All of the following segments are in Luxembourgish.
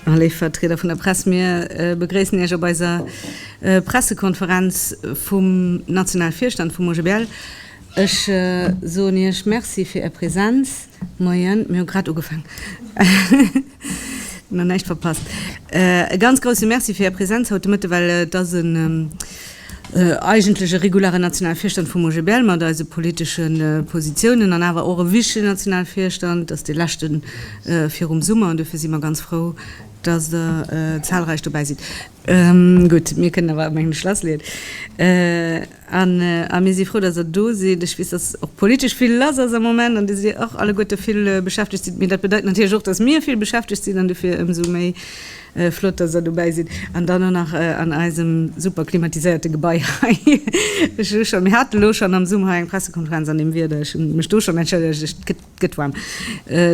Léif Vertrieder vun der Press, mir begréissen Iech op eiser Pressekonferenz vum nationale Virstand vum OGBL. Ech soen Iech Merci fir Är Präsenz. Moien, mir hu grad ugefaangen. Nach näischt verpasst. E ganz grousse Merci fir Är Präsenz haut de Mëtte, well et ass en eigentlech e regulare nationale Virstand vum OGBL mat eise politesche Positiounen an awer och e wichtige nationale Virstand. Et ass dee leschten virum Summer an duerfir si mer ganz frou, dass Der zahlreich dobäi sidd. Gutt, mir kënnen awer eng Schlasslidd. A mir si frou, datt Der do sidd. Ech weess, datt och politesch vill lass ass am Moment an dass Dir och alleguerte vill beschäftegt sidd. Mee dat bedeit natierlech och, datt mir vill beschäftegt sinn an dofir ëmsou méi flott, datt Der dobäi sidd an dann och nach an eisem super klimatiséierte Gebai hei. Ech hu schonn, mir haten elo schonn am Summer hei eng Pressekonferenz an deem Wieder, ech hu mech do schonn entschëllegt, et gëtt, Good one.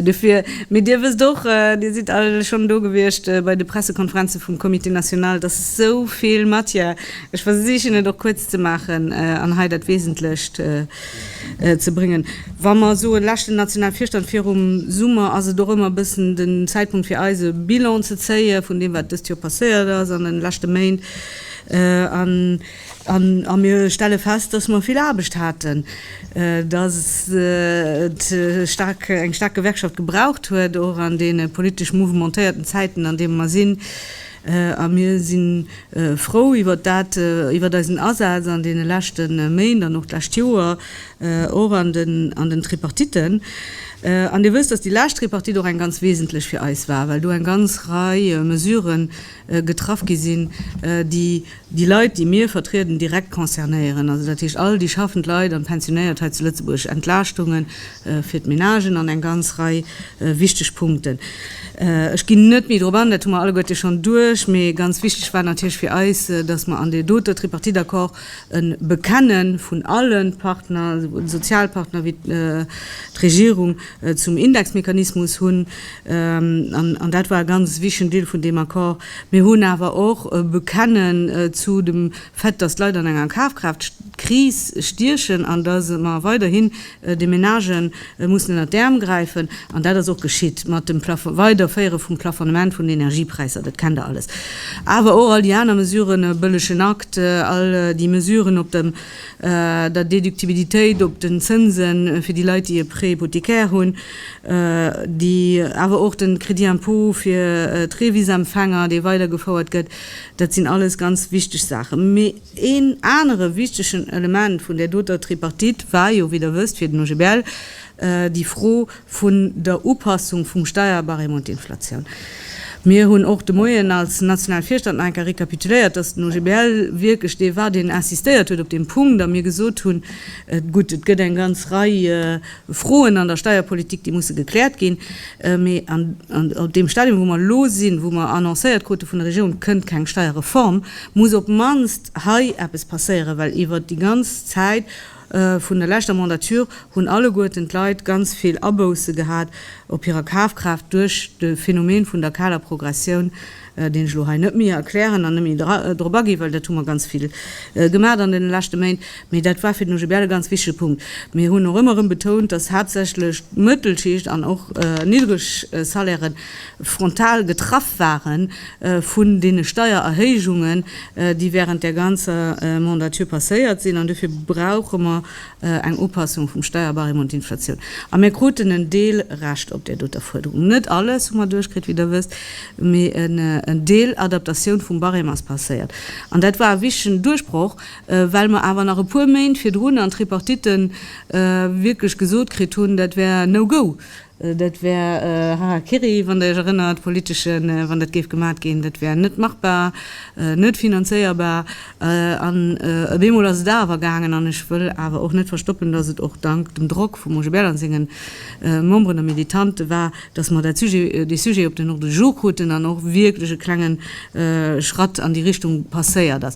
Dofir, mee Dir wësst och, Dir sidd all schonn do gewiescht bei de Pressekonferenze vum Comité national, dass esou vill Matière, ech versichen et och kuerz ze maachen an hei dat Wesentlecht ze bréngen, wa mer soen, leschten nationale Virstand virum Summer, ass et och ëmmer e bëssen den Zäitpunkt fir eis e Bilan ze zéie vun deem, wat dëst Joer passéiert ass an de leschte Méint. A mir stelle fest, dass mer vill Aarbecht haten, dass et staark, eng staark Gewerkschaft gebraucht huet, och an deene politesch mouvementéierten Zäiten, an deene mer sinn. A mir si frou iwwert dat, iwwert eisen Asaz an deene leschte Méint an och d'lescht Joer, och an den Tripartiten. An Dir wësst, dass déi lescht Tripartite och eng ganz wesentlech fir eis war, well do eng ganz Rei Mesuren, getraff gi sinn, déi déi Leit, déi mir vertrieden, direkt concernéieren, also dat heescht all déi schaffend Leit an d'Pensionéiert hei zu Lëtzebuerg, Entlaaschtunge fir d'Menagen an eng ganz Rei wichteg Punkten. Ech ginn net méi drop an, dat hu mer alleguerte schonn duerch. Mee ganz wichteg war natierlech fir eis, dass mer an dee dote Tripartite-Accord e Bekenne vun alle Partner, souwuel de Sozialpartner wéi d'Regierung, zum Indexmechanismus hunn, an dat war e ganz wichtigen Deel vun deem Accord, mir hunn awer och e Bekenne zu dem Fait, dass d'Leit an enger Kafkraaft-Kris stiechen an dass mer weiderhin de Menagë mussen ënner d'Äerm gräifen. An dat ass och geschitt mat dem Weiderféiere vum Plafonnement vun den Energiepräisser, dat kennt Der alles, awer och all déi aner Mesuren, e bëllegen Akt, all déi Mesuren op dem der Déductibilitéit op den Zënsen fir déi Leit, déi e Prêt hypothécaire hunn, déi awer och de Crédit impôt fir d'Revis-Empfänger, dee weidergefouert gëtt, dat sinn alles ganz wichteg Saachen. Mee een anere wichtegen Element vun där doter Tripartite war jo, wéi Der wësst, fir den OGBL déi Fro, vun der Upassung vum Steierbarème un d'Inflatioun. Mir hunn och de Moien als national Virstand nach eng Kéier rekapituléiert, dass den OGBL wierklech dee war, deen insistéiert huet op deem Punkt a mir gesot hunn, Gutt, et gëtt eng ganz Rei Froen an der Steierpolitik, déi musse gekläert ginn, mee op deem Stadium, wou mer elo sinn, wou mer annoncéiert krute vun der Regierung, et kënnt keng Steierreform, muss op d'mannst hei eppes passéieren, well iwwert déi ganz Zäit, Vun der leschter Mandature hunn alleguerten d'Leit ganz vill Abousse gehat op hirer Kafkraaft duerch de Phänomen vun der kaler Progressioun, deen ech elo hei net méi erklären an net méi drop aginn, well dat hu mer ganz vill gemaat an deene leschte Méint. Mee dat war fir den OGBL e ganz wichtige Punkt. Mir hunn och ëmmer erëm betount, dass haaptsächlech d'Mëttelschicht an och niddereg Salairen frontal getraff ware vun deene Steiererhéijungen, déi während där ganzer Mandature passéiert sinn. An dofir brauche mer eng Upassung vum Steierbarème un d'Inflatioun. A mir kruten en Deel Recht op där doter Fuerderung. Net alles hu mer duerchkritt, wéi Der wësst, mee en Deel Adaptatioun vum Barème ass passéiert. An dat war e wichtigen Duerchbroch, well mer awer nach e puer Méint virdrun an Tripartitten wierklech gesot kritt hunn, dat wär no-go, Dat wär Harakiri, wann Der Iech erënnert, politesche, wann dat géif gemat ginn. Dat wär net machbar, net finanzéierbar. An op eemol ass et awer gaangen. An ech wëll awer och net verstoppen, dass et och dank dem Drock vum Roger Bell an senge Memberen a Militante war, dass mer dat Sujet, dee Sujet op den Ordre du jour kruten an och wierklech e klenge Schratt an déi Richtung passéiert ass.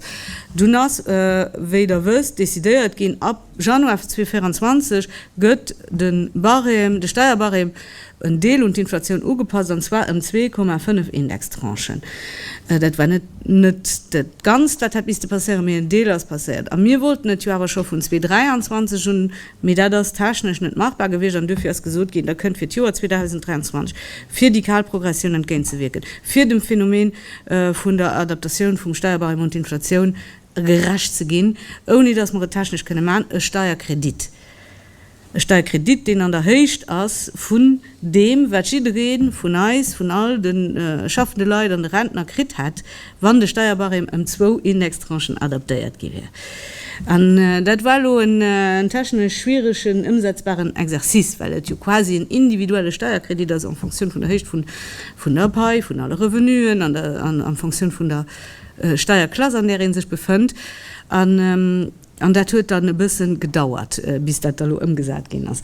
Dunn ass, wéi Der wësst, decidéiert ginn, Januar 2024 gëtt de Barème, de Steierbarème, en Deel un d'Inflatioun ugepasst, an zwar ëm 2,5 Indextranchen. Dat war net net dat Ganzt, wat hätt misste passéieren, mee en Deel ass passéiert. A mir wollten et jo awer scho vun 2023 un, mee dat ass technesch net machbar gewiescht. An duerfir ass gesot ginn, da kënnt fir d'Joer 2023, fir déi kal Progressioun entgéintzewierken, fir dem Phänomen vun der Adaptatioun vum Steierbarème un d'Inflatioun gerecht ze ginn, ouni dass mer et technesch kënne maachen, e Steierkredit, e Steierkredit, deen an der Héicht ass vun deem, wat jidderee vun eis, vun all de schaffende Leit an de Rentner kritt hätt, wann de Steierbarème ëm zwou Indextranchen adaptéiert gi wier. An dat war elo en technesch schwieregen, ëmsetzbaren Exercice, well et jo quasi en individuelle Steierkredit ass en fonction vun der Héicht vun der Pai, vun alle Revenuen an en fonction vun der, Steierklass, an där ee sech befënnt. An dat huet dann e bësse gedauert, bis dat da lo ëmgesat ginn ass.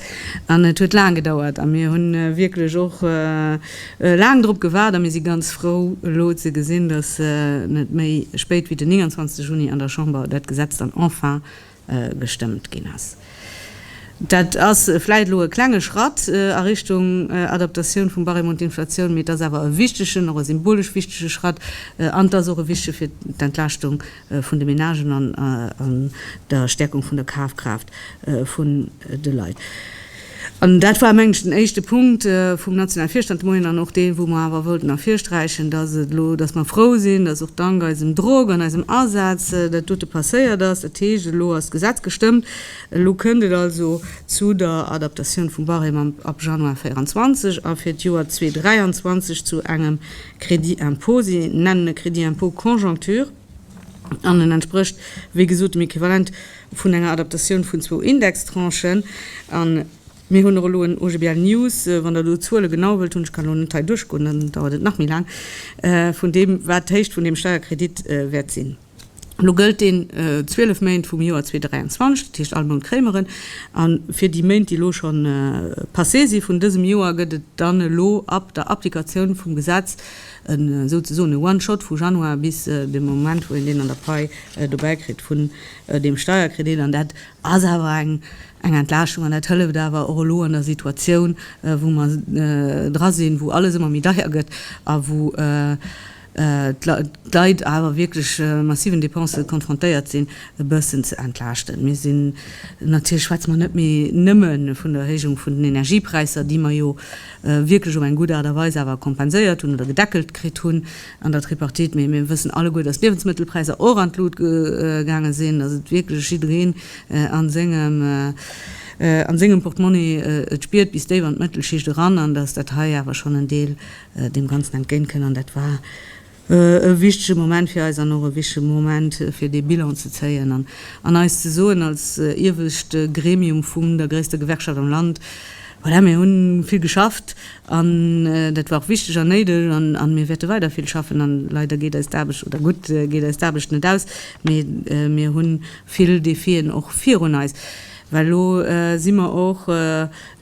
An et huet laang gedauert a mir hu wierklech och laang drop gewaart a mir si ganz frou elo ze gesinn, dass net méi spéit wéi den 29 Juni an der Chamber dat Gesetz dann enfin gestëmmt ginn ass. Dat ass vläit elo e klenge Schratt a Richtung Adaptatioun vum Barème un d'Inflatioun, mee et ass awer e wichtegen, och e symbolesch wichtege Schratt an et ass och e wichtege fir d'Entlaaschtung vun de Menagen an der Stäerkung vun der Kafkraaft vun de Leit. An dat war, mengen ech, den éischte Punkt vum nationale Virstand de Moien an och deen, wou mer awer wollten ervirsträichen, dass et elo, dass mer frou sinn, dass och dank eisem Drock an eisem Asaz dat dote passéiert ass. Dat heescht, elo ass d'Gesetz gestëmmt, elo kënnt et also zu der Adaptatioun vum Barème am ab Januar 2024 a fir d'Joer 2023 zu engem Crédit impôt. Si nennen e Crédit impôt conjoncture. an en entsprécht wéi gesot dem Equivalent vun enger Adaptatioun vun zwou Indextranchen. A mir hunn och elo en OGBL News, wann Der do d'Zuele genau wëllt hunn, ech kann elo net hei duerchgoen, dann dauert et nach méi laang, vun deem, wat d'Héicht vun deem Steierkredit wäert sinn. Elo gëllt deen 12 Méint vum Joer 2023, dat heescht all Mount kréie mer en. A fir déi Méint, déi elo scho passé si vun dësem Joer, gëtt et dann elo ab der Applikatioun vum Gesetz, E souzesoen e one shot vu Januar bis de Moment wou een deen an der Pai dobäi kritt vun deem Steierkredit. An dat ass awer eng Entlaaschtung an dat hëlleft awer och elo an der Situatioun wou mer dra sinn, wou alles ëmmer méi deier gëtt a wou d'Leit awer wierklech massiven Depensë konfrontéiert sinn, e bëssen ze entlaaschten. Mir sinn, natierlech schwätze mer net méi nëmme vun der Erhéijung vun den Energiepräisser, déi mer jo wierklech op eng gutt Aart a Weis awer kompenséiert hunn oder gedeckelt kritt hunn an der Tripartite. Mee mir wëssen alleguer, dass d'Liewensmëttelpräisser och an d'Lut gaange sinn, dass et wierklech jiddereen a sengem Portmonni et spiert, bis déif an d'Mëttelschicht eran, an dass dat hei awer schonn en Deel deem Ganzen entgéintkënn. An dat war. E wichtege Moment fir eis an och e wichtege Moment fir dee Bilan ze zéien an an eis ze soen als iewescht Gremium vum der gréisster Gewerkschaft am Land, Voilà, mir hu vill geschafft an dat war och wichteg an néideg an mir wäerte weider vill schaffen an leider geet eis d'Aarbecht, oder gutt geet eis d'Aarbecht net aus, mee mir hu vill Defien och virun eis. Well elo si mer och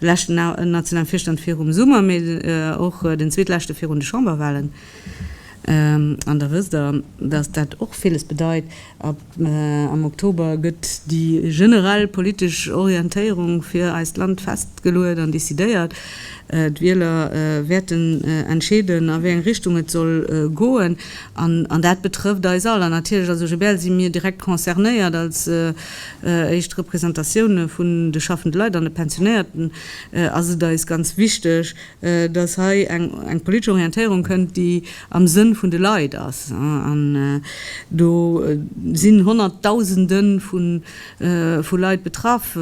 leschten nationalen Virstand virum Summer, mee och den zweetleschte virun de Chamberwahlen. An da wësst Der, dass dat och villes bedeit. Am Oktober gëtt déi generell politesch Orientéierung fir eist Land festgeluet an decidéiert. D'Wieler wäerten entscheeden, a wéi eng Richtung et soll goen. An dat betrëfft eis all. An natierlech als OGBL si mir direkt concernéiert, als éischt Representatioune vun de schaffende Leit an de Pensionéierten ass et eis ganz wichteg, dass hei eng politesch Orientéierung kënnt, déi am Sënn vun de Leit ass. An do sinn Honnertdausende vu Leit betraff,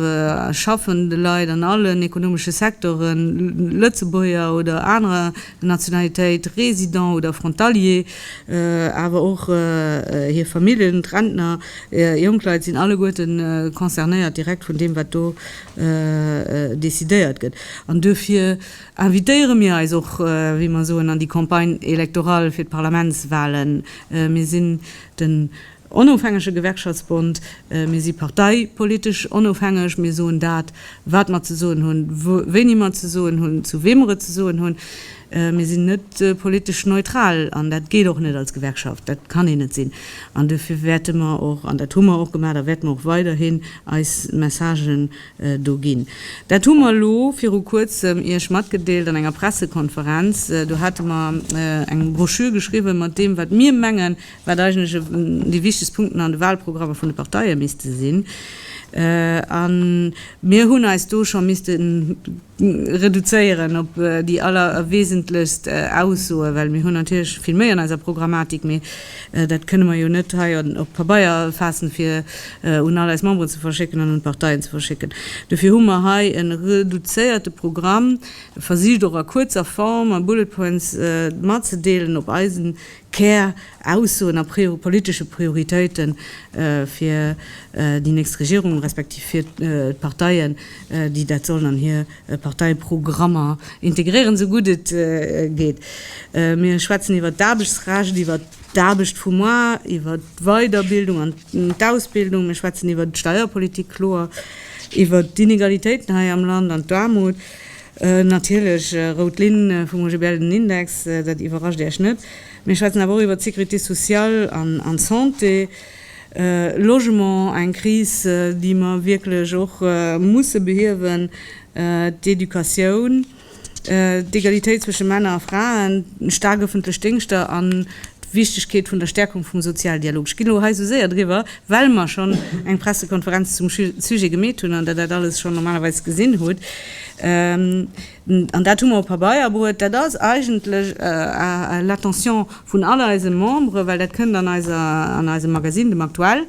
schaffende Leit an allen ekonomesche Secteuren, Lëtzebuerger oder anerer Nationalitéit, Résidents oder Frontalier, awer och hir Familljen, d'Rentner, Jongleit sinn alleguerten concernéiert direkt vun deem, wat do decidéiert gëtt. An duerfir invitéiere mir eis och, wéi mer soen, an déi Campagne électorale fir d'Parlamentswahlen. Mir sinn den onofhängege Gewerkschaftsbond, mir si parteipolitesch onofhängeg, mir soen dat, wat mer ze soen hunn, wéini mer et ze soen hunn, zu wee mer et ze soen hunn. Mir sinn net politesch neutral an dat geet och net als Gewerkschaft, dat kann een net sinn. An duerfir wäerte mer och, an dat hu mer och gemaach a wäerte mer och weiderhin eis Messagen do ginn. Dat hu mer elo viru Kuerzem Iech matgedeelt an enger Pressekonferenz. Do hate mer eng Broschür geschriwwen mat deem, wat mir mengen, wat eigentlech déi wichtegst Punkten an de Wahlprogrammer vun de Parteie misste sinn, a mir hunn eis do scho misste reduzéieren op déi allerwesentlechst Aussoe well mir hunn natierlech vill méi an eiser Programmatik, mee dat kënne mer jo net hei op Pabeier faassen, fir un all eis Memberen ze verschécken an un d'Parteien ze verschécken. Dofir hu mer hei e reduzéierte Programm versicht, och a kuerzer Form, a bullet points, matzedeelen op eisen Käraussoen a politesche Prioritéite fir déi nächst Regierung, respektiv fir d'Parteien, déi dat sollen an hir Parteiprogrammer integréieren, esou gutt et geet. Mir schwätzen iwwert d'Aarbechtsrecht, iwwert d'Aarbecht vum Mois, iwwert d'Weiderbildung an d'Ausbildung, mir schwätzen iwwert d'Steierpolitik, kloer iwwert d'Inegalitéiten hei am Land an d'Aarmut. Natierlech, rout Linn vum OGBL, den Index, dat iwwerrascht Iech net. Mir schwätzen awer och iwwert d'Sécurité sociale an d'Santé, Logement, eng Kris, déi mer wierklech och musse behiewen, d'Educatioun, d'Egalitéit zwësche Männer a Fraen, staark ëffentlech Déngschter an d'Wichtegkeet vun der Stäerkung vum Sozialdialog. Ech ginn elo hei esou séier driwwer, well mer schonn eng Pressekonferenz zum Sujet gemeet hunn an Der dat alles schonn normalerweis gesinn hutt. An dat hu mer op Pabeier bruet. Dat ass eigentlech à l'attention vun all eise Membere, well dat kënnt an eiser, an eisem Magazine, dem Aktuell,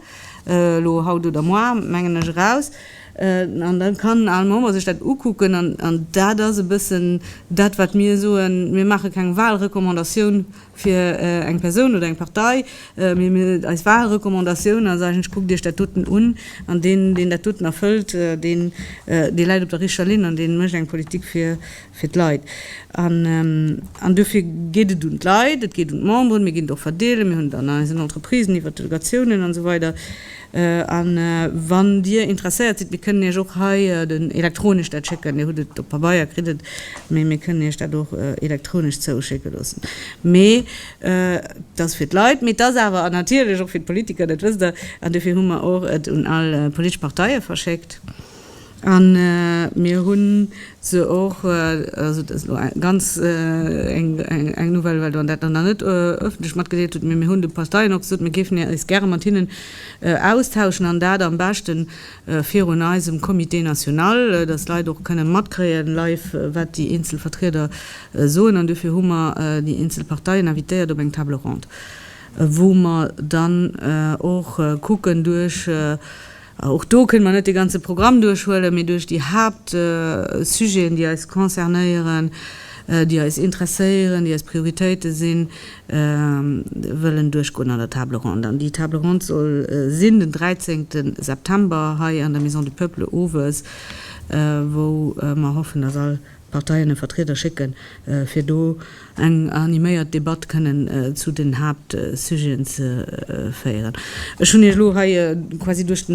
elo haut oder moar, mengen ech, eraus. An da kann all Member sech dat ukucken. An dat ass e bëssen dat, wat mir soen, Mir maache keng Walrecommandatioun, fir eng Persoun oder eng Partei, eis vage Recommandatioun ass eigentlech, kuckt iech dat doten un an deen, deen dat doten erfëllt, deen, dee läit op der richtger Linn an dee mécht eng Politik fir, fir d'Leit. An duerfir geet et un d'Leit, et geet un d'Memberen, mir ginn et och verdeelen, mir hunn et an eisen Entreprisen iwwert d'Delegatiounen an esou weider. A wann Dir interesséiert sidd, mir kënnen Iech och hei den elektronesch dat schécken. Dir hutt et op Pabeier, kritt et, mee mir kënnen Iech dat och elektronesch zouschécke loossen. Mee et ass fir d'Leit, mee et ass awer natierlech och fir d'Politiker, dat wësst Der. An dofir hu mer och et un all politesch Parteie verschéckt. An mir hu se och, also dat ass elo eng ganz eng Nouvelle, well Der dat nach net öffentlech matgedeelt hutt, mee mir hunn de Parteien och gesot, mir géifen eis gäre mat hinnen austauschen an dat am beschte virun eisem Comité national, dass d'Leit och kënne matkréie live, wat déi eenzel Vertrieder soen. An duerfir hu mer déi eenzel Parteien invitéiert op eng Table ronde, wou mer dann och kucken duerch, Och do kënne mer net de ganze Programm duerchhuelen, mee duerch déi Haaptsujeten, déi eis concernéieren, déi eis interesséieren, déi eis Prioritéite sinn, wëllen duerchgoen an der Table ronde. An déi Table ronde soll sinn den 13 September hei an der Maison du Peuple owes, wou mer hoffen, dass all. D'Parteien e Vertrieder schécken, fir do eng animéiert Debatt kënnen zu den Haaptsujeten ze féieren. Ech hunn Iech elo hei quasi duerch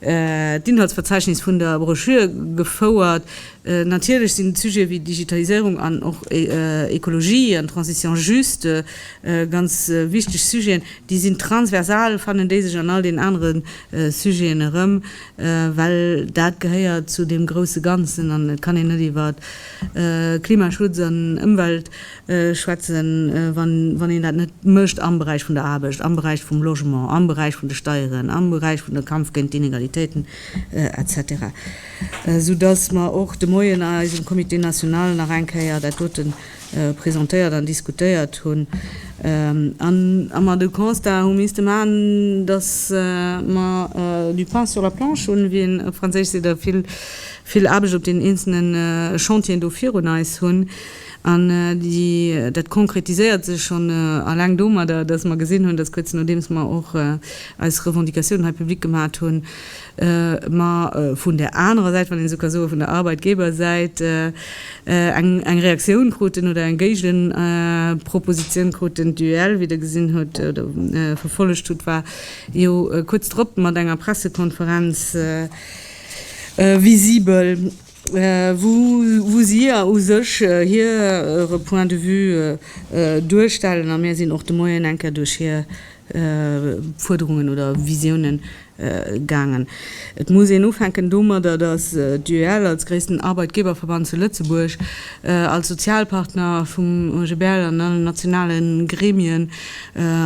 d'Inhaltsverzeichnis vun der Broschür gefouert. Natierlech sinn d'Sujete wéi Digitaliséierung an och Ekologie an Transition juste ganz wichteg Sujeten. Déi sinn transversal, fannen déi sech an all den anere Sujeten erëm. well dat gehéiert zu deem grousse Ganzen an et kann een net iwwert Klimaschutz an Ëmwelt schwätzen, wann een dat net mécht am Beräich vun der Aarbecht, am Beräich vum Logement, am Beräich vun de Steieren, am Beräich vun de Kampf géint d'Inegalitéiten etc. Soudass mer och de Moien a eisem Comité national nach eng Kéier dat dote presentéiert an diskutéiert hunn an a mer de Constat hu misste maachen, datt mer du pain sur la planche hunn, wéi een op Franséisch seet, a vill, vill Aarbecht op deenen eenzelne Chantieren do virun eis hunn. An déi, dat konkretiséiert sech schonn eleng domadder, datt mer gesinn hunn, datt kuerz nodeems mer och eis Revendicatiounen hei public gemat hunn, mä vun där anerer Säit, wann een esou ka soen, vun der Arbeitgebersäit eng Reaktioun kruten oder eng Géigepropositioun kruten. D'UEL, wéi Der gesinn hutt oder verfollegt hutt, war jo kuerz drop mat enger Pressekonferenz visibel. wou si jo u sech hire Point de vue duerstellen a mir sinn och de Moien eng Kéier duerch hir Fuerderungen oder Visiounen gaangen. Et muss een ufänken domadder, datt d'UEL als gréissten Arbeitgeberverband zu Lëtzebuerg, als Sozialpartner vum OGBL an allen nationale Gremien,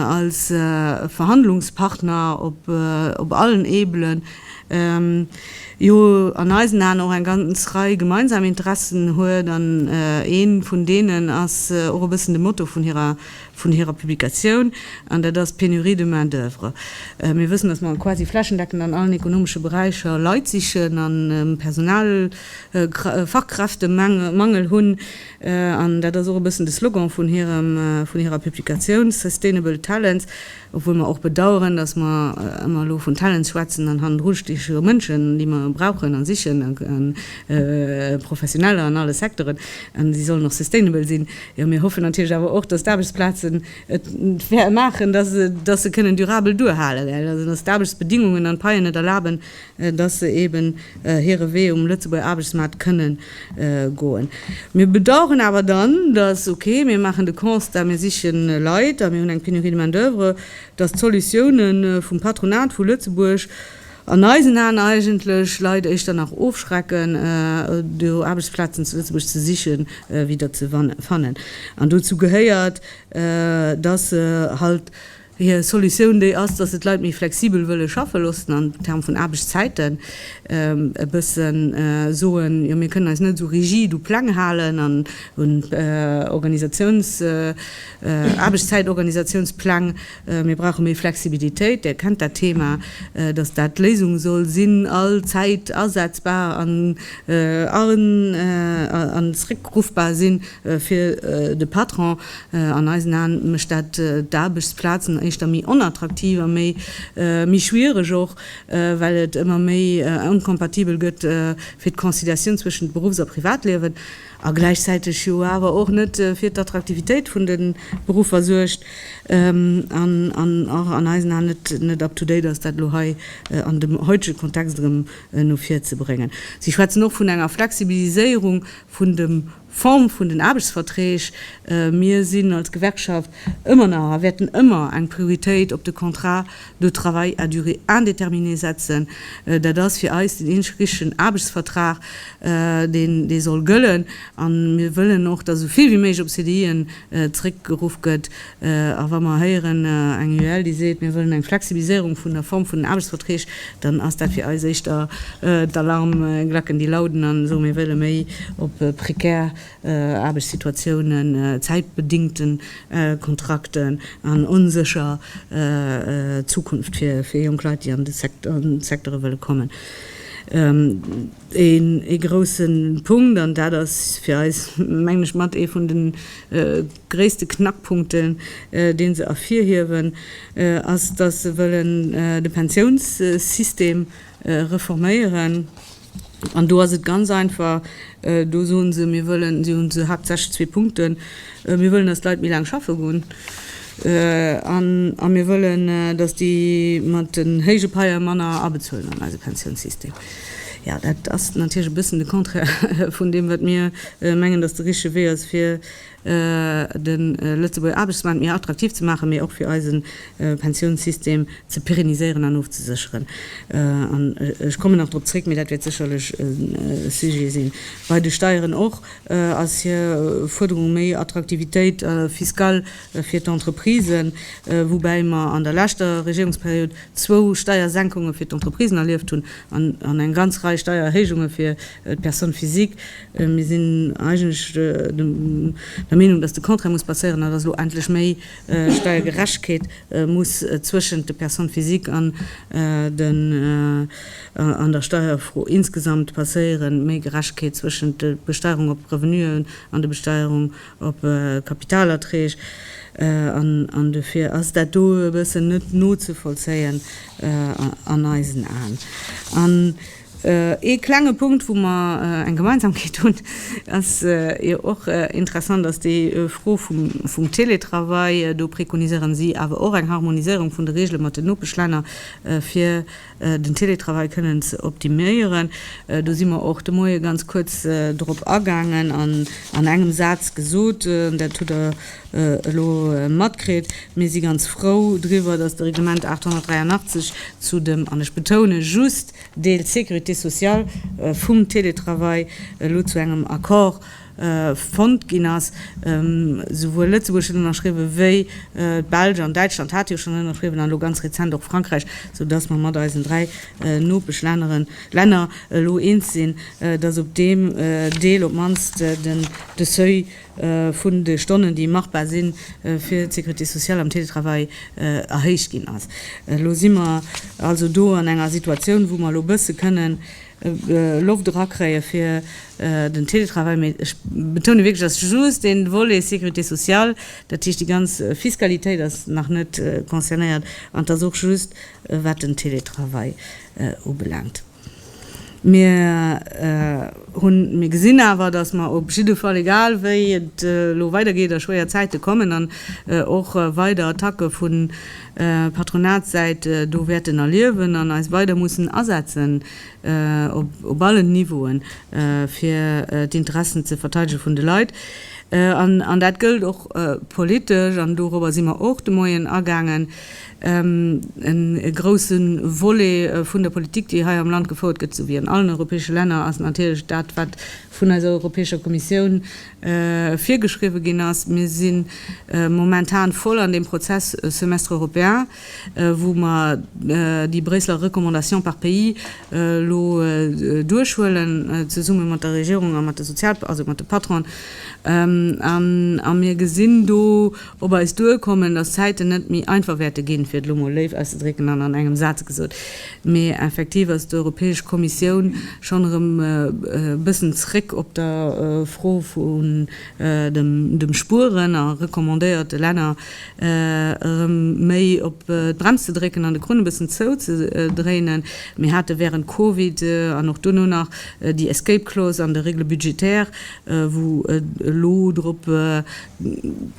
als Verhandlungspartner op allen Ebelen, jo an eisen Aen och eng ganz Rei gemeinsam Interessen huet an ee vun deenen ass och e bëssen de Motto vun hirer vun hirer Publikatioun an dat ass d'Pénurie de main d'oeuvre. Mir wëssen, datt mer quasi flächendeckend an allen ekonomesche Beräicher Leit sichen a Personal Fachkräftemangel hunn an dat ass och e bëssen de Slogan vun hirem vun hirer Publikatioun Sustainable Talents. obwuel mer och bedaueren, dass mer ëmmer elo vun Talents schwätzen an hannendru sti scho Mënschen, déi mer brauchen a sichen, Professioneller an alle Secteuren, an si sollen och sustainable sinn. Jo, mir hoffen natierlech awer och, dass d'Aarbechtsplazen et maachen, dass se kënnen durabel duerhalen, dass d'Aarbechtsbedingungen an d'Paien et erlaben, dass se eben hire Wee um Lëtzebuerger Aarbechtsmaart kënne goen. Mir bedauern awer dann, dass, ok, mir maachen de Constat, mir siche Leit a mir hunn eng Pénurie de main-d'oeuvre, dass d'Solutioune vum Patronat vu Lëtzebuerg an eisen Aen eigentlech Leit éischter nach ofschrecken, do Aarbechtsplazen zu Lëtzebuerg ze sichen, wéi der ze fannen. An dozou gehéiert, dass se halt Hir Solutioun déi ass, datt se d'Leit méi flexibel wëlle schaffe loossen an Term vun Aarbechtszäiten e bësse soen, jo mir kënnen eis net esou rigid u Pläng halen an un Organisatiouns Aarbechtszäitorganisatiounspläng, mir brauche méi Flexibilitéit. Dir kennt dat Thema, datt dat d'Léisung soll sinn, all Zäit asetzbar an zréckruffbar sinn. Fir de Patron, an eisen Aen, mécht dat d'Aarbechtsplazen éischter méi onattraktiv a méi méi schwiereg och, well et ëmmer méi incompatibel gëtt fir d'Conciliatioun zwëschent Beruffs a Privatliewen, a gläichzäiteg jo awer och net fir d'Attraktivitéit vun de Beruffer suergt, an och an eisen Aen net net up to date ass, dat elo hei an dem heutege Kontext erëm no vir ze bréngen. Si schwätzen och vun enger Flexibiliséierung vun dem Form vun den Aarbechtsverträg. Mir sinn als Gewerkschaft ëmmer nach a wäerten ëmmer eng Prioritéit op de Contrat de travail à durée indéterminée setzen. Dat ass fir eis den eeneg richtegen Aarbechtsvertrag, deen dee soll gëllen. A mir wëllen och, datt esou vill wéi méiglech op CDIen zeréckgeruff gëtt, A wa mer héieren eng UEL, déi seet, mir wëllen eng Flexibiliséierung vun der Form vun den Aarbechtsverträg, dann ass dat fir eis éischter d'Alarmglacken, déi lauden an soen, mir wëlle méi op prekär Aarbechtssituatiounen, zäitbedingten Kontrakten an onsécher Zukunft fir jonk Leit, déi an de Secteure wëlle kommen. Ee grousse Punkt, an dat ass fir eis, mengen ech, mat ee vun de gréisste Knackpunkten, dee se ervirhiewen, ass, datt se wëllen de Pensiounssystem reforméieren. An do ass et ganz einfach, Do soe se, mir wëllen, si hunn haaptsächlech zwee Punkten, Mir wëllen, datt d'Leit méi laang schaffe goen, a mir wëllen, datt déi mat den héije Paie manner abezuelen an eise Pensiounssystem. Jo, dat ass natierlech e bëssen de Contraire vun deem, wat mir mengen, datt de richtege Wee ass, fir de Lëtzebuerger Aarbechtsmaart méi attraktiv ze maachen, mee och fir eise Pensiounssystem ze pérenniséieren an ofzesécheren. An ech kommen nach drop zréck, mee dat wäert sécherlech e Sujet sinn. Bei de Steieren och ass hir Fuerderung, méi Attraktivitéit, fiscal fir d'Entreprisen, woubäi mer an der leschter Regierungsperiod zwou Steiersenkunge fir d'Entreprisen erlieft hunn an eng ganz Rei Steiererhéijunge fir d'Personne physique. Mir sinn eigentlech der Meenung, datt de Contraire muss passéieren a datt elo endlech méi Steiergerechtegkeet muss zwëschent de Personnes physiques an den an der Steierfro insgesamt passéieren, méi Gerechtegkeet zwëschent de Besteierung op Revenuen an de Besteierung op Kapitalerträg an dofir ass dat do e bëssen net nozevollzéien an eisen Aen. An ee klenge Punkt, wou mer eng Gemeinsamkeet hunn, ass jo och interessant, ass déi Fro vum Télétravail. Do prekoniséieren si awer och eng Harmoniséierung vun de Reegele mat den Nopeschlänner, fir den Télétravail kënnen ze optiméieren. Do si mer och de Moie ganz kuerz drop agaangen an an engem Saz gesot, dat hutt Der elo matkritt, Mir si ganz frou driwwer, dass de Reglement 883 zu dem, an ech betoune just, Deel Sécurité sociale vum Télétravail elo zu engem Accord fonnt ginn ass. Souwuel Lëtzebuerg huet ënnerschriwwen, wéi d'Belsch an Däitschland hate jo schonn ënnerschriwwen, an elo ganz rezent och Frankräich, sou dass mer mat eisen dräi Nopeschlänner elo eens sinn, dass op deem Deel op d'mannst de Seuil vun de Stonnen, déi machbar si fir d'Sécurité sociale am Télétravail, erhéicht ginn ass. Elo si mer also do an enger Situatioun, wou mer elo e bësse kënnen, Loft erakréien fir den Télétravail, mä ech betounen wierklech, dass just dee Volet Sécurité sociale, dat heescht déi ganz Fiskalitéit ass nach net concernéiert an dass och just wat den Télétravail ubelaangt. Mir hunn, mir gesinn awer, dass mer op jidde Fall, egal wéi et elo weidergeet a schwéier Zäite kommen an och weider Attacke vun, Patronatssäit do wäerten erliewen an eis weider mussen asetzen, op allen Niveauen, fir d'Interessen ze verteidege vun de Leit. An dat gëllt och politesch, an dorobber si mer och de Moien agaangen, e grousse Volet vun der Politik, déi hei am Land gefouert gëtt, sou wéi an allen europäesche Länner, ass natierlech dat, wat vun eiser Europäescher Kommissioun virgeschriwwe ginn ass. Mir si momentan voll an deem Prozess Semestre européen, wou mer déi Bréisseler Recommandations par pays elo duerchhuelen, zesumme mat der Regierung a mat de Sozial-, also mat de Patronen. A mir gesinn do op eis duerkommen, dass d'Zäiten net méi einfach wäerte ginn, fir et elo emol léif auszedrécken an an engem Saz gesot. Mee effektiv ass d'Europäesch Kommissioun schonn erëm e bëssen zréck op der Fro vun dem Spueren a recommandéiert de Länner, erëm méi op d'Brems ze drécken an de Krunn e bëssen zou ze dréinen. Mir hate wärend Covid an och duerno nach déi Escape Clause an de Règles budgétaires, wou et elo drop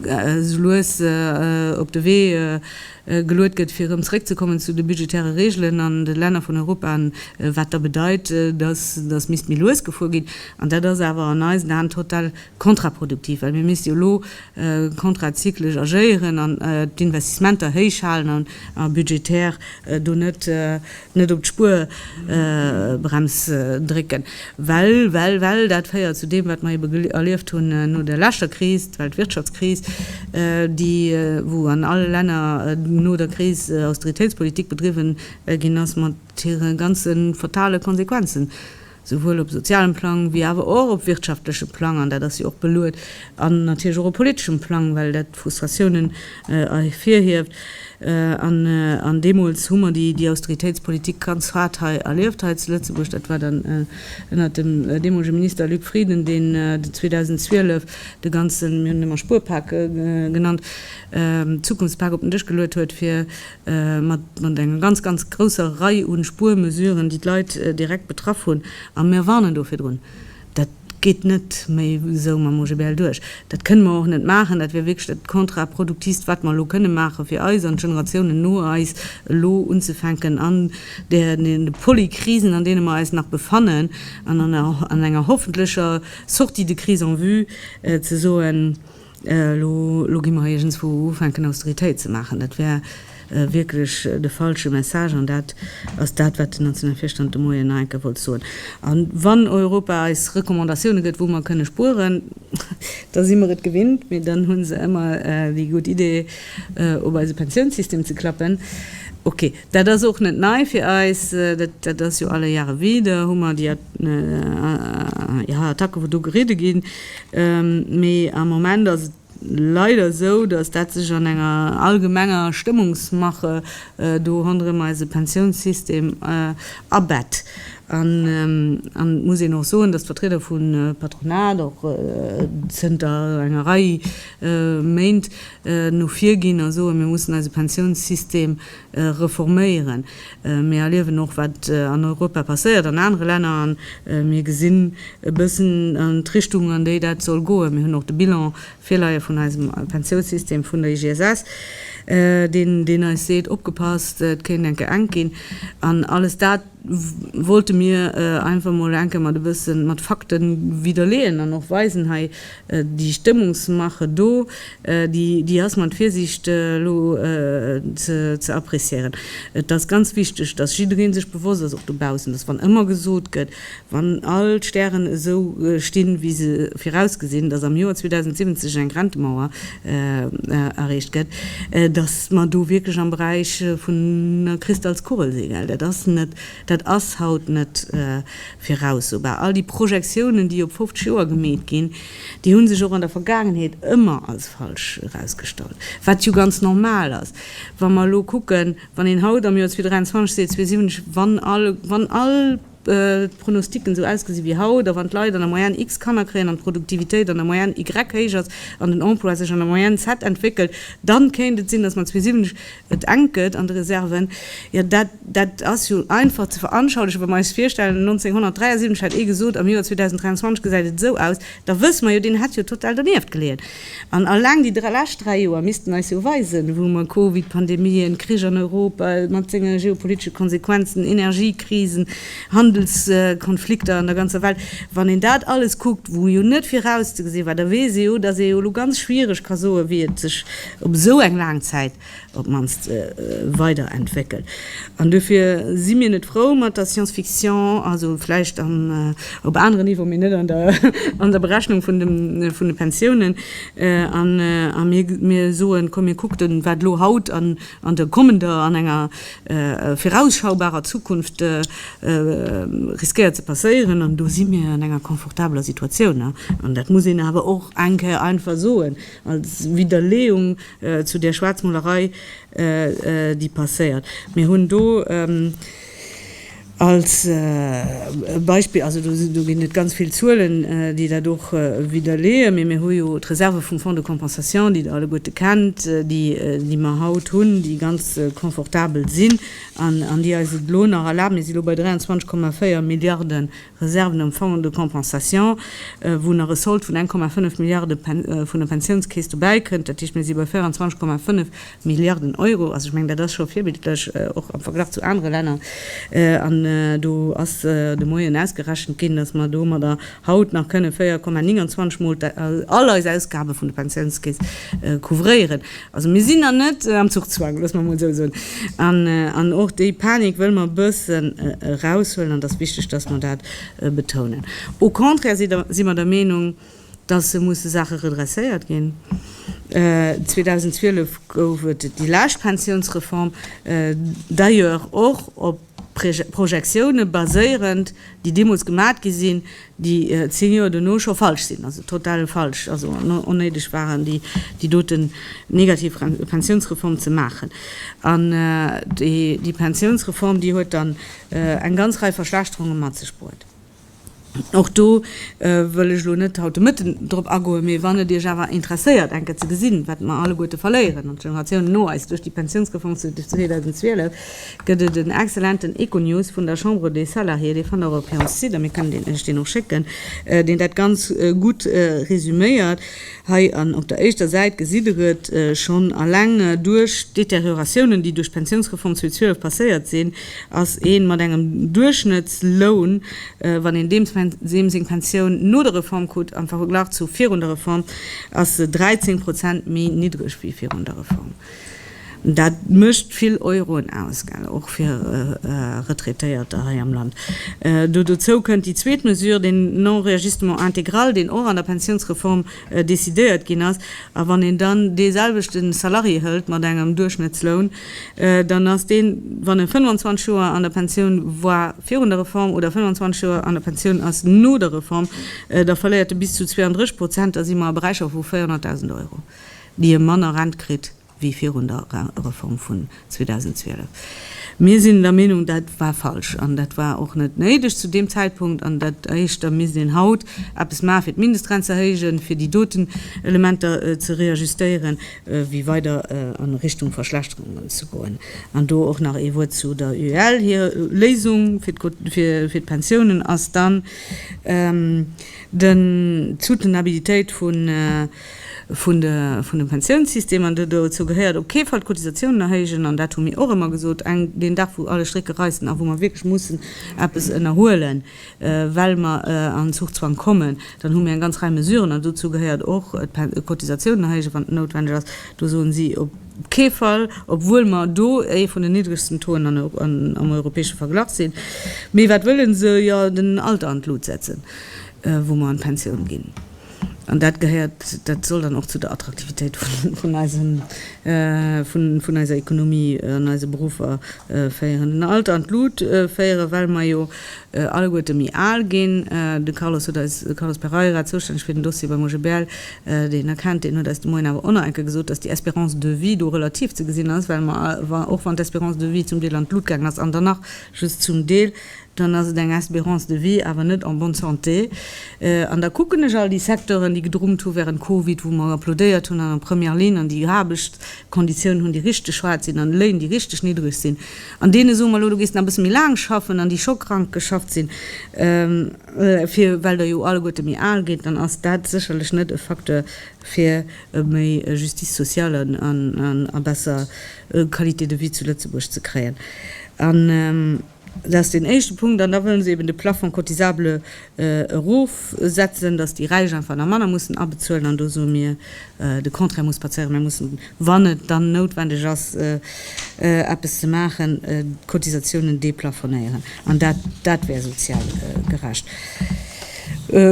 esou lues op de Wee. geluet gëtt, fir erëm zréckzekommen zu de budgetäre Reegelen an de Länner vun Europa, wat da bedeit, datt datt misst méi lues gefuer ginn. An dat ass awer an eisen Aen total kontraproduktiv, well mir misste jo elo kontrazyclesch agéieren an d'Investissementer héichhalen a budgetär do net Net op d'Spuerbrems drécken, well, well, well dat féiert zu deem, wat mer ebe erlieft hunn no der leschter Kris, d'Weltwirtschaftskris, déi, wou an alle Länner no der Kris Austeritéitspolitik bedriwwen ginn ass, mat hire ganze fatale Konsequenzen. souwuel op sozialem Plang wéi awer och op wirtschaftlechem Plang, an dat ass jo och beluet, an natierlech och op politeschem Plang, well dat Frustratiounen ervirhieft. An deemools hu mer déi Austeritéitspolitik ganz haart hei erlieft, hei zu Lëtzebuerg. Dat war dann ënnert dem deemolege Minister Luc Frieden, deen 2012 de ganzen, mir hunn en ëmmer Spuerpak genannt, Zukunftspak op den Dësch geluet huet, fir mat enger ganz, ganz grousser Rei u Spuermesuren, déi d'Leit direkt betraff hunn. A mir warnen do virdrun, Dat geet net méi esou mam OGBL duerch. Dat kënne mer och net maachen. Dat wier wierklech dat Kontraproduktivst, wat mer elo kënne maache fir eis an d'Generatiounen no eis, elo unzefänken an deene Polykrisen, an deene mer eis nach befannen, an an enger hoffentlecher Sortie de crise en vue ze soen, Elo gi mer iergendzwou ufänken Austeritéit ze maachen. Dat wär wierklech de falsche Message an dat ass dat, wat den nationale Virstand de Moien nach eng Kéier wollt soen. A wann Europa eis Recommandatioune gëtt, wou mer kënne spueren, da si mer et gewinnt, mee dann hu se ëmmer déi gutt Idee op eise Pensiounssystem ze klappen. Ok. Dat ass och net nei fir eis. Dat ass jo alle Jahre wieder, hu mer déi Attacken, wou do geridde ginn. Mee am Moment ass et leider esou, dass dat sech an enger allgemenger Stëmmungsmache do ronderëm eise Pensiounssystem abett. An et muss een och soen, dass d'Vertrieder vum Patronat och zënter enger Rei Méint no vir ginn a soen, mir mussen eise Pensiounssystem reforméieren. Mir erliewen och, wat an Europa passéiert, an anere Länner, a mir gesinn e bëssen d'Richtung, an déi dat soll goen. Mir hunn och de Bilan virleie vun eisem Pensiounssystem vun der IGSS, deen eis seet, Opgepasst, et kéint enke enk ginn. An alles dat wollte mir einfach mol enke mat e bësse mat Fakte widerleeën an och weisen hei, déi Stëmmungsmache do, déi ass mat Virsiicht elo ze appréciéieren. Et ass ganz wichteg, dass jidderee sech bewosst ass, och dobaussen, dass wann ëmmer gesot gëtt, wann all d'Stären esou stinn, wéi se virausgesinn, dass am Joer 2070 eng Rentemauer erreecht gëtt, datt mer do wierklech am Beräich vun der Kristallskugel sinn, well dat ass net, dat ass haut net viraussobar. All déi Projektiounen, déi op 50 Joer gemeet ginn, déi hu sech och an der Vergaangenheet ëmmer als falsch erausgestallt, wat jo ganz normal ass. Wa mer elo kucken, wann een haut am Joer 2023 seet, 2027, wann all, wann all. d'Pronosticken esou ausgesi wéi haut, a wann d'Leit an der Moyenne X Kanner kréien, an d'Produktivitéit an der Moyenne Y héich ass, an den Emploi sech an der Moyenne Z entwéckelt, dann kéint et sinn, datt mat 2070 et enk gëtt an de Reserven. Jo, dat, dat ass jo einfach ze veranschaulichen, wa mer eis virstellen, 1973 hätt ee gesot, am Joer 2023 gesäit et esou aus, da wësse mer jo, deen hätt jo total donieft geleeën. An alleng déi lescht dräi Joer missten eis jo weisen, wou mer Covid, Pandemie, en Krich an Europa mat senge geopolitesche Konsequenzen, Energiekrisen, Handelskonflikter an der ganzer Welt, wann een dat alles kuckt, wou jo net virauszegesinn war, da weess ee jo, datt ee jo elo ganz schwiereg ka soen, wéi et sech op esou eng laang Zäit op d'mannst weider entwéckelt. An dofir si mir net frou mat der Science Fiction, also vläicht op aneren Niveau, mee net an der Berechnung vun de Pensiounen. A mir soen, komm mir kuckten, wat elo haut an an der kommender, an enger virausschaubarer Zukunft riskéiert ze passéieren. An do si mir an enger confortabeler Situatioun. An dat muss een awer och eng Kéier einfach soen als Widderleeung. Zu där Schwaarzmolerei, déi passéiert, mir hunn do als Beispill, also do ginn et ganz vill Zuelen, déi dat och widderleeën, mee mir hu jo d'Reserve vum Fonds de compensation, déi Der alleguerte kennt, déi mer haut hunn, déi ganz confortabel sinn an déi eis et elo nach erlaben, mir si lo bei 23,4 Milliarden Reserven am Fonds de compensation, wou nach e Sold vun 1,5 Milliarde vun der Pensiounskeess dobäikënnt. Dat heescht, mir si bei 24,5 Milliarden Euro. Also ech mengen, dat ass scho virbildlech, och am Verglach zu anere Länner. An do ass de Moien ausgerechent ginn, dass mer domadder haut nach kënne 4,29 Mol all eis Ausgabe vun der Pensiounskeess couvréieren. Also mir sinn nach net am Zuchzwang, loosse mer emol esou soen. An och déi Panik wëlle mer e bëssen eraushuelen an et ass wichteg, dass mer dat betounen. Au contraire si mer der Meenung, dass e musse Saache redresséiert ginn. 2012 gouf et déi lescht Pensionsreform, d'ailleurs och op D'Projectioune baséierend, déi deemools gemat gi sinn, déi zéng Joer duerno scho falsch sinn, also total falsch, also onnéideg waren, déi doten negativ Pensiounsreform ze maachen. An déi Pensiounsreform, déi huet dann eng ganz Rei Verschlechterunge mat sech bruet. Och do wëll ech elo net haut de Mëtten drop agoen, mee wann et Iech awer interesséiert enke ze gesinn, wat mer alleguerte verléieren an d'Generatiounen no eis duerch déi Pensiounsreform zu 2012, gëtt et en excellenten Econews vun der Chambre des Salariés, dee fannt der op hirem Site, a mir kënnen Iech deen och schécken, deen dat ganz gutt resuméiert. Hei an op der éischter Säit gesitt der et, Schonn alleng duerch d'Deterioratiounen, déi duerch d'Pensiounsreform 2012 passéiert sinn, ass ee mat engem Duerchschnëttsloun, wann een deem seng Pensioun no der Reform krut, am Verglach zu virun der Reform, ass se 13 Prozent méi niddreg wéi virun der Reform. Dat mécht vill Euroen aus, och fir Retraitéierter hei am Land. Do dozou kënnt déi zweet Mesure, den Non-réajustement intégral, deen och an der Pensiounsreform decidéiert ginn ass. A wann een dann deeselwechte Salarié hëlt mat engem Duerchschnëttsloun, dann ass deen, wann e 25 Joer an der Pensioun war virun der Reform oder 25 Joer an der Pensioun ass no der Reform, da verléiert e bis zu 32 Prozent. Da si mer a Beräicher vu 400.000 Euro. déi e manner Rent kritt wéi virun der Rentereform vun 2012. Mir sinn der Meenung, dat war falsch an dat war och net néideg zu deem Zäitpunkt. An dat heescht, da misst een haut eppes maachen, fir d'Mindestrent ze erhéijen, fir déi doten Elementer ze reajustéieren, wéi weider a Richtung Verschlechterungen ze goen. An do och nach ee Wuert zu der UEL. Hir Léisung fir d'Pensiounen ass dann, d'Soutenabilitéit vun, vun dem Pensiounssystem, an dozou gehéiert op kee Fall d'Cotisatiounen erhéijen, an dat hu mir och ëmmer gesot, deen Dag wou alle Strécke reissen a wou mer wierklech mussen eppes ënnerhuelen, well mer an Zuchzwang kommen, dann hu mir eng ganz Rei Mesuren, an dozou gehéiert och d'Cotisatiounen erhéijen, wann et noutwendeg ass. Do soen si op kee Fall, obwuel mer do ee vun den niddregsten Taux am europäesche Verglach sinn. Mee wat wëlle se? Jo, den Alter an d'Lut setzen, wou mer an d'Pensioun ginn. An dat gehéiert, dat soll dann och zu der Attraktivitéit vun eisem, vun eiser Ekonomie an eise Beruffer féieren. Den Alter an d'Lut féieren, well mer jo alleguerte méi al ginn. De Carlos huet eis, de Carlos Pereira, zoustänneg fir den Dossier beim OGBL, deen Der kennt, deen huet eis de Moien awer onerenke gesot, dass déi Espérance de vie do relativ ze gesinn ass, well mer, och wann d'Espérance de vie zum Deel an d'Lut gaangen ass an dann nach just zum Deel, dann ass et eng Espérance de vie, awer net en bonne santé. An da kucken ech all déi Secteuren, déi gedrummt hu während Covid, wou mer applaudéiert hunn an der Première ligne an déi Aarbechtskonditiounen hunn, déi richteg schwaarz sinn an Léin, déi richteg niddreg sinn, an deene soe mer, Elo, du gees nach e bësse méi laang schaffen, an déi scho krank geschafft sinn, fir well der jo alleguerte méi al gitt, dann ass dat sécherlech net e Facteur fir méi Justice sociale a besser Qualité de vie zu Lëtzebuerg ze kréien. Dat ass deen éischte Punkt. An da wëlle se eben de Plafond cotisable erofsetzen, dass déi Räich einfach nach manner mussen abezuelen. An do soe mir, de Contraire muss passéieren. Mir mussen, wann et dann noutwendeg ass, eppes ze maachen, d'Cotisatiounen deplafonéieren. An dat, dat wär sozial gerecht.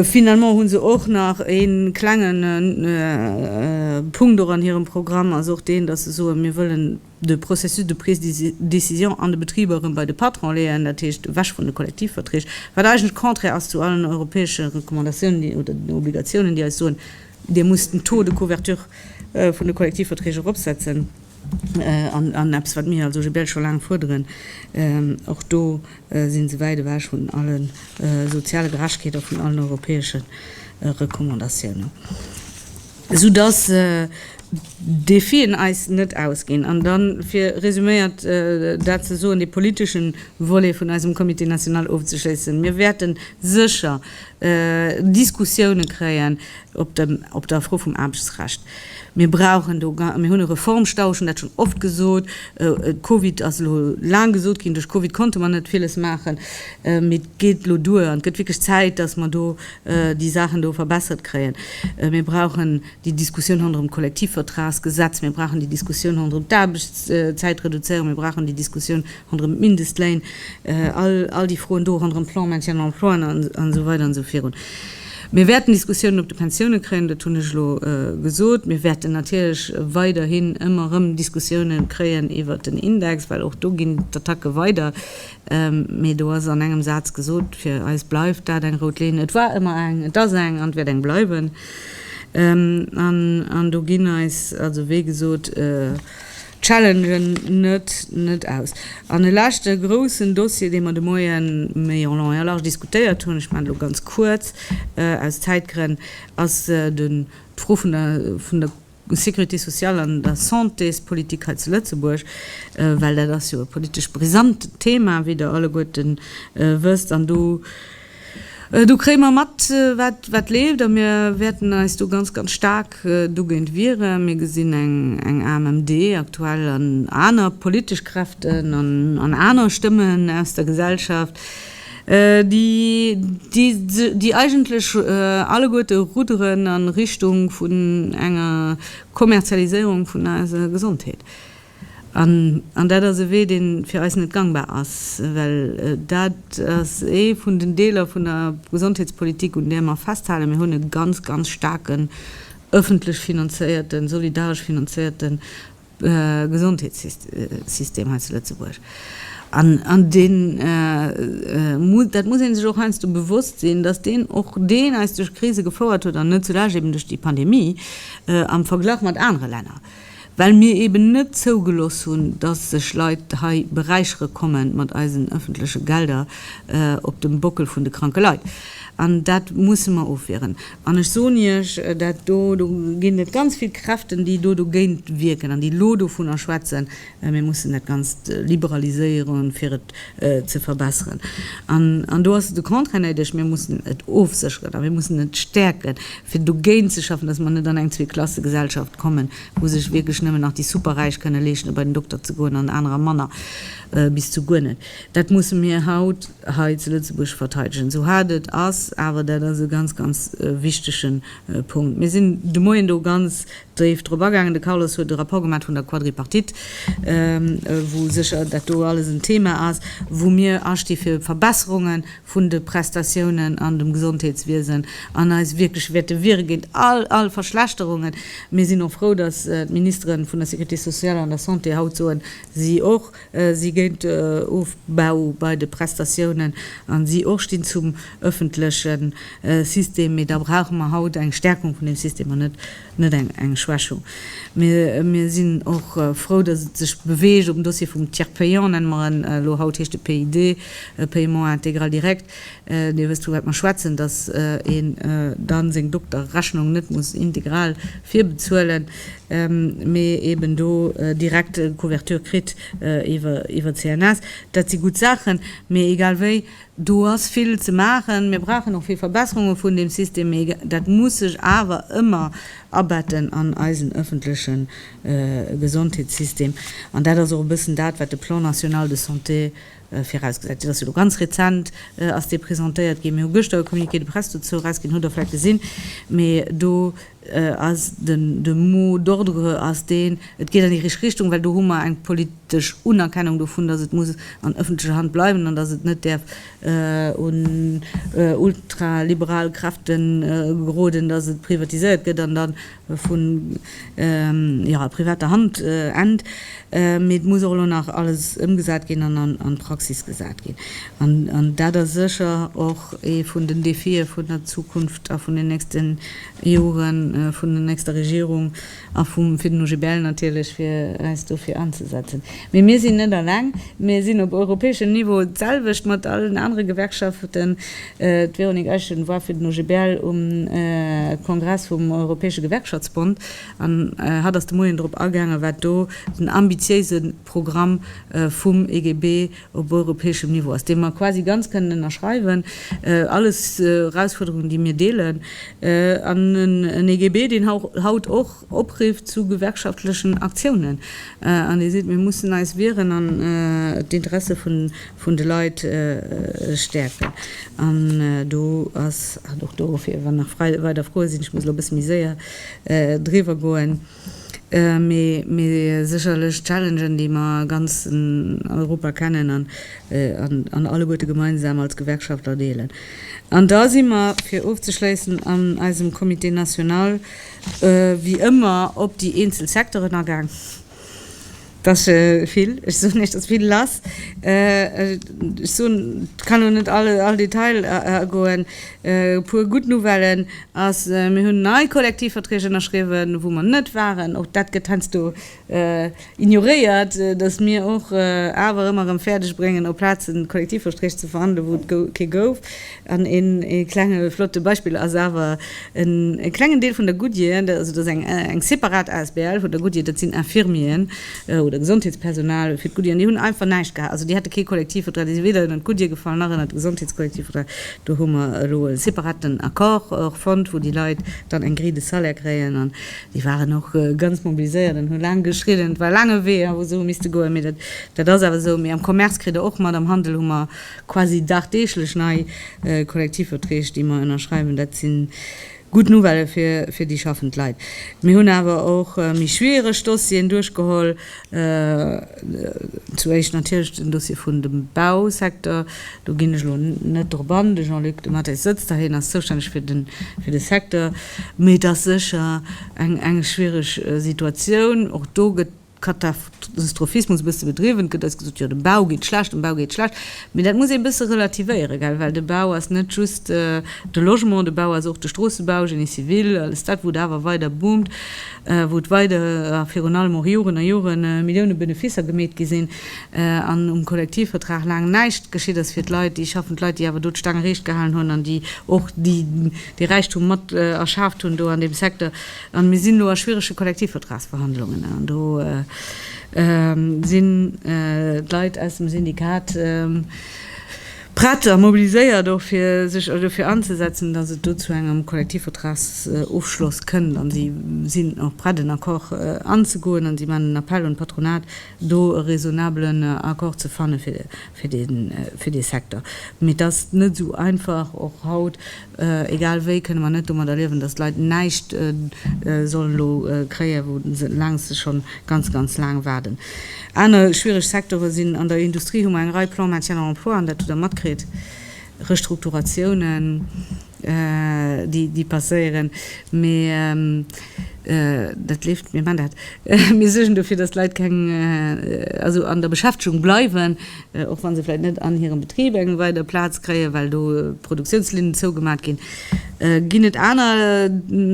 Finalement hu se och nach ee klenge Punkt och an hirem Programm, ass och deen, dass se soen, Mir wëllen de Processus de prise de décision an de Betriber erëm bei de Patron leeën, dat heescht ewech vun de Kollektivverträg, wat eigentlech contraire ass zu allen europäesche Recommandatiounen oder den Obligatiounen, déi eis soen, Dir musst den Taux de couverture vun de Kollektivverträg eropsetzen an eppes, wat mir als OGBL scho laang fuerderen. Och do si se wäit ewech vun alle soziale Gerechtegkeet a vun allen europäesche Recommandatiounen. Esou dass d'Defien eis net ausginn. An dann, fir resuméiert dat ze soen, dee politeschen Volet vun eisem Comité national ofzeschléissen, Mir wäerten sécher Diskussiounen kréien op der Fro vum Aarbechtsrecht. Mir brauchen do, mir hunn e Reformstau, ech hunn dat schonn oft gesot, Covid ass elo laang gesot ginn, duerch Covid konnte mer net villes maachen, mee et geet elo duer an et gëtt wierklech Zäit, dass mer do, déi Saachen do verbessert kréien. Mir brauchen déi Diskussioun ronderëm d'Kollektivvertragsgesetz, mir brauchen déi Diskussioun ronderëm d'Aarbechtszäitreduzéierung, mir brauchen déi Diskussioun ronderëm d'Mindestléin, all déi Froen do ronderëm Plan maintien de l'emploi an esou weider an esou virun. Mir wäerten Diskussiounen op de Pensiounen kréien, dat hunn ech elo gesot. Mir wäerten natierlech weiderhin ëmmer erëm Diskussiounen kréien iwwert den Index, well och do ginn d'Attacke weider. Mee do ass an engem Saz gesot, fir eis bleift dat eng rout Linn. Et war ëmmer eng, et ass eng an et wäert eng bleiwen. An do ginn eis, also wéi gesot, d'Challengen net aus. An e leschte groussen Dossier, dee mer de Moie méi en long et en large diskutéiert hunn, ech maachen et elo ganz kuerz aus Zäitgrënn, ass d'Fro vun der Sécurité sociale an der Santéspolitik hei zu Lëtzebuerg, well dat ass jo e politesch brisant Thema, wéi Der alleguerten wësst. An do kréie mer mat, wat leeft, a mir wäerten eis do ganz, ganz staark dogéint wieren. Mir gesinn eng AMMD aktuell an aner politesch Kräften an aner Stëmmen aus der Gesellschaft, déi eigentlech alleguerte rudderen a Richtung vun enger Kommerzialiséierung vun eiser Gesondheet. An dat ass e Wee, dee fir eis net gangbar ass, well dat ass ee vun den Deeler vun der Gesondheetspolitik, un där mer festhalen. Mir hunn e ganz, ganz staarken öffentlech finanzéierten, solidaresch finanzéierten Gesondheetssystem hei zu Lëtzebuerg. An deen, dat muss ee sech och heiansdo bewosst sinn, datt deen och deen eis duerch Krise gefouert huet, an net zulescht eben duerch déi Pandemie, am Verglach mat anere Länner, well mir eben net zougelooss hunn, datt sech Leit hei beräichere komme mat eisen ëffentleche Gelder op dem Bockel vun de kranke Leit. An dat musse mer ofwieren. An ech soen Iech, dat do, do ginn et ganz vill Kräften, déi do dogéint wierken an déi elo dovunner schwätzen, mir mussen dat Ganzt liberaliséieren, fir et ze verbessern. An do ass et de Contraire néideg, Mir mussen et ofsécheren a mir mussen et stäerken, fir dogéint ze schaffen, dass mer net an eng Zweeklassegesellschaft kommen, wou sech wierklech nëmmen nach déi Superräich kënne leeschten, bei den Dokter ze goen an anerer manner bis zu guer net. Dat musse mir haut. hei zu Lëtzebuerg verteidegen, esou haart et ass. Awer dat ass e ganz, ganz wichtege Punkt. Mir sinn de Moien do ganz déif drop agaangen. De Carlos huet e Rapport gemaach vun der Quadripartite, wou sécher dat do alles en Thema ass, wou mir asti fir Verbesserunge vun de Prestatiounen an dem Gesondheetswiesen an eis wierklech wäerte wiere géint all, all Verschlechterungen. Mir sinn och frou, datt d'Ministere vun der Sécurité sociale an der Santé haut soen, si och, si géint de Ofbau bei de Prestatiounen an si och stinn zum ëffentleche System, mee da brauche mer haut eng Stärkung vun dem System an net eng Schwächung. Mir sinn och frou, dass et sech beweegt um Dossier vum Tiers payant, nenne mer en elo, haut heescht e PID, Paiement intégral direct, Dir wësst vu wat mer schwätzen, dass een da seng Dokterrechnung net muss integral virbezuelen, mee eben do direkt Couverture kritt iwwer d'CNS. Dat si gutt Saachen, mee egal wéi, do ass vill ze maachen. Mir brauchen och vill Verbesserunge vun deem System, mee dat muss sech awer ëmmer abetten an eisen ëffentleche Gesondheetssystem. An dat ass och e bëssen dat, wat de Plan national de santé Virausgesat, dat ass jo elo ganz rezent, ass dee presentéiert ginn. Mir hu gëschter e Communiqué de presse dozou erausginn, hutt Der vläicht gesinn. Mee do ass den, de mot d'ordre ass deen, et geet an déi richteg Richtung, well do hu mer eng politesch Unerkennung dovun, dass et muss an öffentlecher Hand bleiwen an dass et net däerf un ultraliberal Kräfte geroden, dass et privatiséiert gëtt an dann vu privater Hand ennt, mee et muss och elo nach alles ëmgesat ginn an an d'Praxis gesat ginn. An dat ass sécher och ee vun den Defie vun der Zukunft a vun den nächste Jore vun der nächster Regierung a fir den OGBL natierlech, fir eis dofir anzesetzen. Mee mir sinn net alleng. Mir sinn op europäeschem Niveau d'selwecht mat allen anere Gewerkschaften D'Véronique Eischen war fir den OGBL um Kongress vum Europäesche Gewerkschaftsbond an hatt ass de Moien drop agaangen, wat do den ambitiéise Programm vum EGB op europäeschem Niveau ass, dee mer quasi ganz kënnen ënnerschreiwen. Alles Erausfuerderungen, déi mir deelen. An en EGB, deen haut och Opriff zu gewerkschaftlechen Aktiounen, an Dir sidd, mir mussen eis wieren an d'Interesse vun de Leit stäerken. An do ass, an och dofir, wann nach weider Froe sinn, ech muss elo e bësse méi séier driwwer goen, mee sécherlech Challengen, déi mer a ganz Europa kennen an alleguerte gemeinsam als Gewerkschaftler deelen. An da si mer, fir ofzeschléissen, an eisem Comité national, wéi ëmmer op déi eenzel Secteuren agaang. Et ass vill, ech soen Iech, et ass vill lass. Ech soen, ech kann elo net all all Detail agoen. E puer gutt Nouvellen ass, mir hunn nei Kollektivverträg ënnerschriwwen, wou mer net waren. Och dat gëtt heiansdo ignoréiert, datt mir och awer ëmmer erëm fäerdeg bréngen op Plazen Kollektivversträg ze verhandelen, wou et kee gouf. An een klenge flotte Beispill ass awer e klengen Deel vun der Goodyear, also dat ass eng separat asbl vun der Goodyear, dat sinn Infirmieren oder Gesondheetspersonal fir d'Goodyear an déi hunn einfach näischt gehat, also déi hate kee Kollektivvertrag, déi si weder ënnert d'Goodyear gefall nach ënnert de Gesondheetskollektivvertrag. Do hu mer elo e separaten Accord och fonnt, wou déi Leit dann eng Grille de salaire kréien. Déi waren och ganz mobiliséiert an hu laang geschriden. Et war e laange Wee, wou se hu misste goen, mee dat, dat ass awer esou. Mee am Commerce kritt Der och mat, am Handel hu mer quasi dagdeeglech nei Kollektivverträg, déi mer ënnerschreiwen. Dat si gutt Nouvellë fir, fir déi schaffend Leit. Mir hunn awer och méi schwiereg Dossieren duerchgeholl. Zu éischt natierlech den Dossier vun dem Bausecteur. Do ginn ech elo net drop an. De Jean-Luc Dematteis sëtzt da, hien ass zoustänneg fir de Secteur. Mee et ass sécher eng schwiereg Situatioun. Och do gëtt Katastrophismus e bësse bedriwwen. Et gëtt eis gesot, jo dem Bau geet schlecht, dem Bau geet schlecht. Mee dat muss ee bësse relativéieren, gell, well de Bau ass net just de Logement, de Bau ass och de Stroossebau, Génie civil, alles dat, wou et awer weider boomt. wou et weider a virun allem och Joren a Jore Millioune Benefisser gemeet gi sinn an um Kollektivvertrag laang näischt geschitt ass fir d'Leit, déi schaffend Leit, déi awer do d'Staang ereecht gehalen hunn an déi och dee Räichtum mat erschaaft hunn do an deem Secteur. A mir sinn elo a schwierege Kollektivvertragsverhandlungen an do sinn d'Leit aus dem Syndikat, prett a mobiliséiert och fir sech dofir anzesetzen, datt et do zu engem Kollektivvertragsofschloss kënnt an si sinn och prett en Accord anzegoen an si maachen en Appell un d'Patronat do e raisonnabelen Accord ze fanne fir dee Secteur. Mee et ass net esou einfach och haut Egal wéi kënne mer net domadder liewen, datt d'Leit näischt sollen elo kréien, wou se längst schonn ganz, ganz laang waarden. Aner schwiereg Secteure sinn, an der Industrie hu mer eng Rei Plans maintien en emploi, an dat hutt Der matkritt, Restrukturatiounen, déi passéieren, mee dat leeft. Mir man dat, mir suergen dofir, datt d'Leit keng, also an der Beschäftegung bleiwen. och wa se vläicht net an hirem Betrib eng weider Plaz kréien, well do Produktiounslinnen zougemat ginn, ginn et aner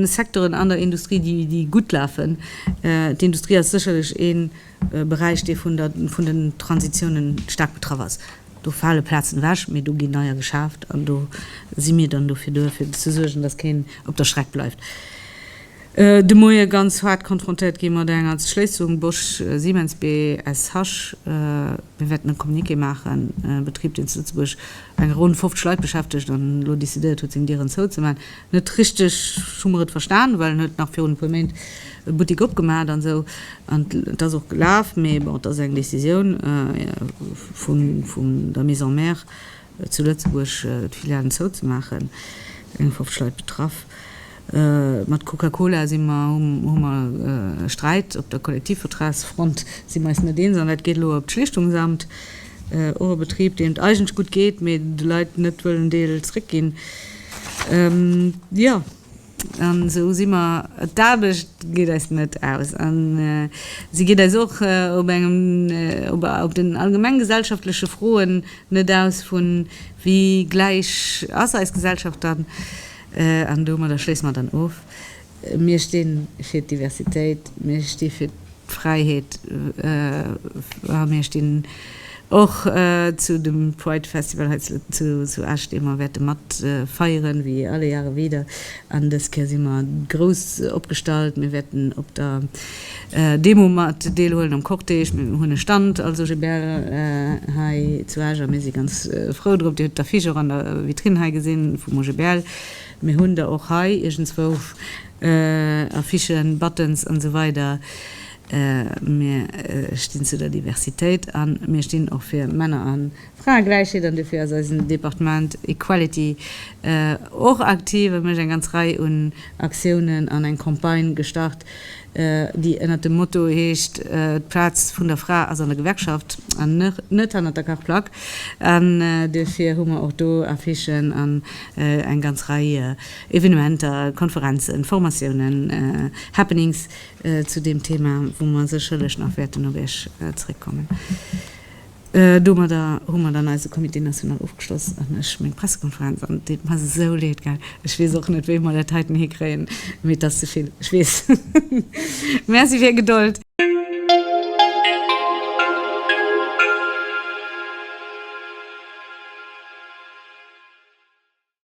Secteuren an der Industrie, déi gutt lafen. D'Industrie ass sécherlech ee Beräich, dee vun den Transitiounen staark betraff ass. Do fale Plazen ewech, mee do ginn neier geschaaft an do si mir dann dofir duer, fir ze suergen, dass keen op der Streck bleift. De Moie ganz haart konfrontéiert gi mat enger Schléissung Bosch-Siemens BSH. Mir wäerten e Communiqué maachen, e Betrib, deen zu Lëtzebuerg eng ronn 50 Leit beschäftegt an elo decidéiert huet, seng Dieren zouzemaachen. Net richteg hu mer et verstan, well en huet nach virun e puer Méint e Buttik opgemaach hat an esou. An et ass och gelaf, mee bon, et ass eng Décisioun vun der Maison mère. Zu Lëtzebuerg d'Filialen zouzemaachen, eng 50 Leit betraff. Mat Coca-Cola si mer, hu mer e Sträit op der Kollektivvertragsfront, si mer eis net eens, an dat geet elo op d'Schlichtungsamt. Och e Betrib, deem et eigentlech gutt geet, mee de Leit net wëllen Deel zréckginn. Jo. An esou si mer. D'Aarbecht geet eis net aus an se geet eis och op engem, op den allgemeng gesellschaftleche Froen net aus vun, Wéi gläich ass eis Gesellschaft dann? An domadder schléisse mer dann of, Mir sti fir d'Diversitéit, mir sti fir. Fräiheet a mir stinn och zu dem Pride Festival hei zu Esch, dee mer wäerte mat feieren, wéi alle Jahre wieder. An dës Kéier si mer grouss opgestallt, mir wäerten op der Demo mat deelhuelen, am Cortège, mir hunn e Stand als OGBL hei zu Esch a mir si ganz frou drop. Dir hutt d'Affiche och an der Vitrine hei gesinn vum OGBL, mir hunn der och hei iergendswou. Affichen, Buttons an esou weider Mir stinn zu der Diversitéit a mir stinn och fir Männer a Fraegläichheet an dofir ass eisen Departement Equality och aktiv a mécht eng ganz Rei un Aktiounen an eng Campagne gestart, déi ënnert dem Motto heescht, D'Plaz vun der Fra ass an der Gewerkschaft an net hannert der Kachplack. An dofir hu mer och do Affichen an eng ganz Rei Evenementer, Konferenzen, Formatiounen, Happenings zu deem Thema, wou mer sécherlech nach wäerten op Iech zréckkommen. Domadder hu mer dann eise Comité national ofgeschloss an ech meng Pressekonferenz. An et deet mer esou leed, gell. Ech weess och net, wéi mer dat heiten hikréien, mee et ass ze vill, ech weess. Merci fir Är Gedold.